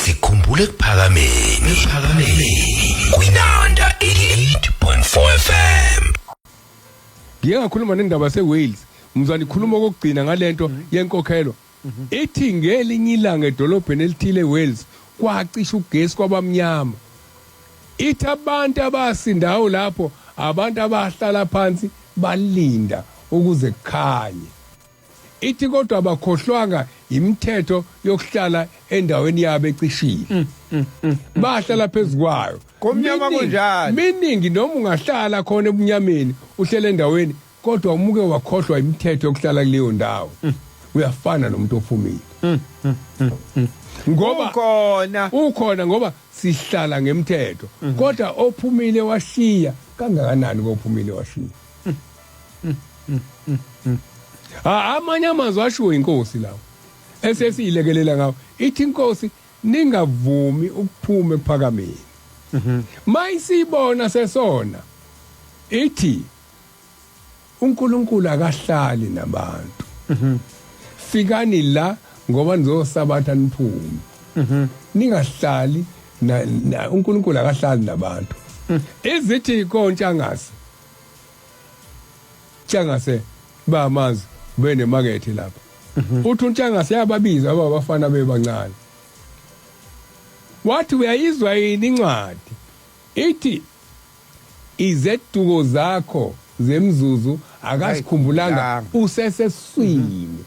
sikhumbule kuphakameni kuphakameni kwinanda 88.4 FM ngike ngakhuluma nendaba seWales mzani khuluma kokugcina ngalento yenkokhelo ithi ngelinye ilanga edolobheni elithile eWales kwacisha ugesi kwabamnyama ithi abantu abasindayo lapho abantu abahlala phansi balinda ukuze kukhanye Ithi kodwa abakhohlwanga yimithetho yokuhlala endaweni yabo ecishile. Mm, mm, mm, Bahlala phezu kwayo. Komnyama kunjani? Meaning noma ungahlala khona ebunyameni uhlele endaweni kodwa umuke wakhohlwa imithetho yokuhlala kuleyo ndawo. Uyafana nomuntu ophumile. Ngoba ukhona ukhona ngoba sihlala ngemthetho. Kodwa ophumile washiya kangakanani kophumile washiya. Ah, amanye amazwi ashiwo inkosi lawo esesiyilekelela ngawo ithi inkosi ningavumi ukuphume kuphakameni mayisibona sesona ithi uNkulunkulu akahlali nabantu fikani la ngoba nizosabatha niphume ningahlali na- na- uNkulunkulu akahlali nabantu izithi kontshangazi Tshangase bayamazi benemakethe lapha mhm. uthi untshangase yababiza aba bafana bebancane wathi uyayizwa yini incwadi ithi izeduko zakho zemzuzu akasikhumbulanga useseswini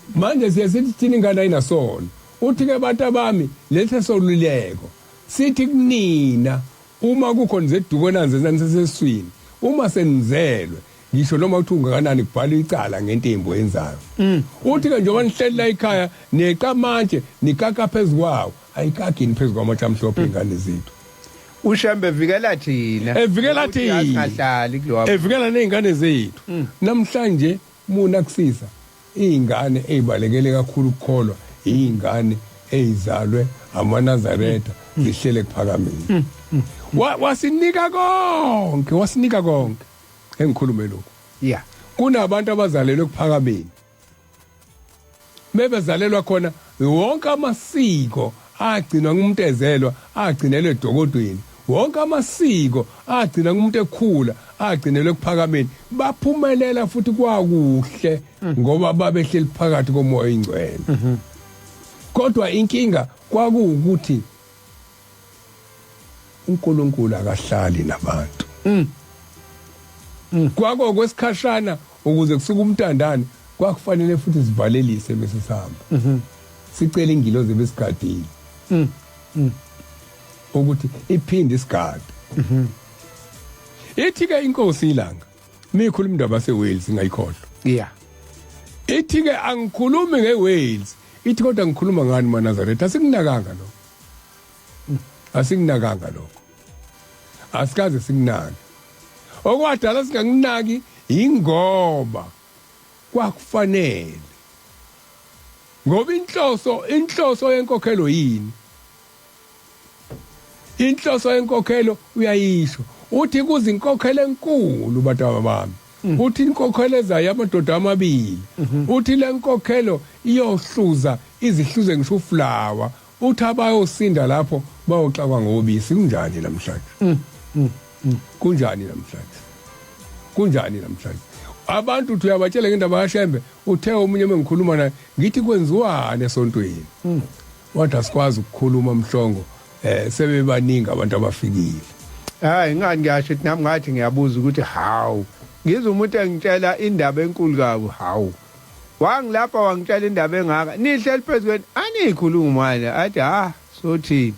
mhm. manje siye sithi thina ingane ayinasona uthi-ke abantu abami lesi soluleko sithi kunina Uma kukhona izeduko enanzenza niseseswini, uma senizelwe, ngisho noma kuthiwa ungakanani kubhalwa icala ngento embi oyenzayo. Mm. Uthi-ke njengoba nihleli la ekhaya neqa amatshe nikaka phezu kwawo, ayikagini phezu kwamatshe amhlophe mm. iy'ngane zethu. ushembe evikela thina evikela thina evikela ney'ngane zethu mm. namhlanje muna kusisa Iy'ngane ey'balekele kakhulu ukukholwa iy'ngane ey'zalwe amanazaretha zihlele kuphakamile. Wa- Wasinika konke, wasinika konke. Engikhulume lokhu. Yeah. Kunabantu abazalelwe kuphakamile. Bebezalelwa khona wonke amasiko agcinwa ngumuntu ezelwa, agcinelwa edokodweni. Wonke amasiko agcina kumuntu ekhula agcinelwe ekuphakameni baphumelela futhi kwakuhle ngoba babehleli phakathi komoya oyingcwele kodwa inkinga kwakuwukuthi uNkulunkulu akahlali nabantu mm. Mm. kwako kwesikhashana ukuze kusuke umtandane kwakufanele futhi sivalelise bese sihamba mm -hmm. sicela ingilozi ebesigadile mm. mm. ukuthi iphinde isigade mm -hmm. ithi ke inkosi ilanga mikhuluma indaba seWales ngayikhohlwa yeah ithi ke angikhulumi ngeWales ithi kodwa ngikhuluma ngani maNazaretha sikunakanga lo asinginakanga lokho asikaze singinaki okwadala singanginaki ingoba kwakufanele ngoba inhloso inhloso yenkokhelo yini inhloso yenkokhelo uyayisho uthi kuzinkokhelo enkulu bataba bami mhm. uthi inkokhelo ezayo amadoda amabili mhm. uthi lenkokhelo iyohluza izihluze ngisho uflower Uthi abayosinda lapho bayoxakwa ngobisi kunjani namhlanje? Mm, mm, mm. Kunjani namhlanje? Kunjani namhlanje? Abantu uthi uyabatshela ngendaba kaShembe uthe omunye mengikhuluma naye ngithi kwenziwani esontweni. Mm. Wathi asikwazi ukukhuluma mhlongo eh sebebaningi abantu abafikile. Hayi ngani ngiyasho ukuthi nami ngathi ngiyabuza ukuthi how. Ngizwa umuntu engitshela indaba enkulu kabi how. wangilapha wangitshela indaba engaka nihleli phezu kweni aniyikhulumi manje athi ha sothini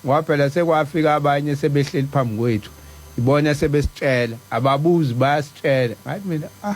ngoba phela sekwafika abanye sebehleli phambi kwethu ibona sebesitshela ababuzi bayasitshela ngathi mina ah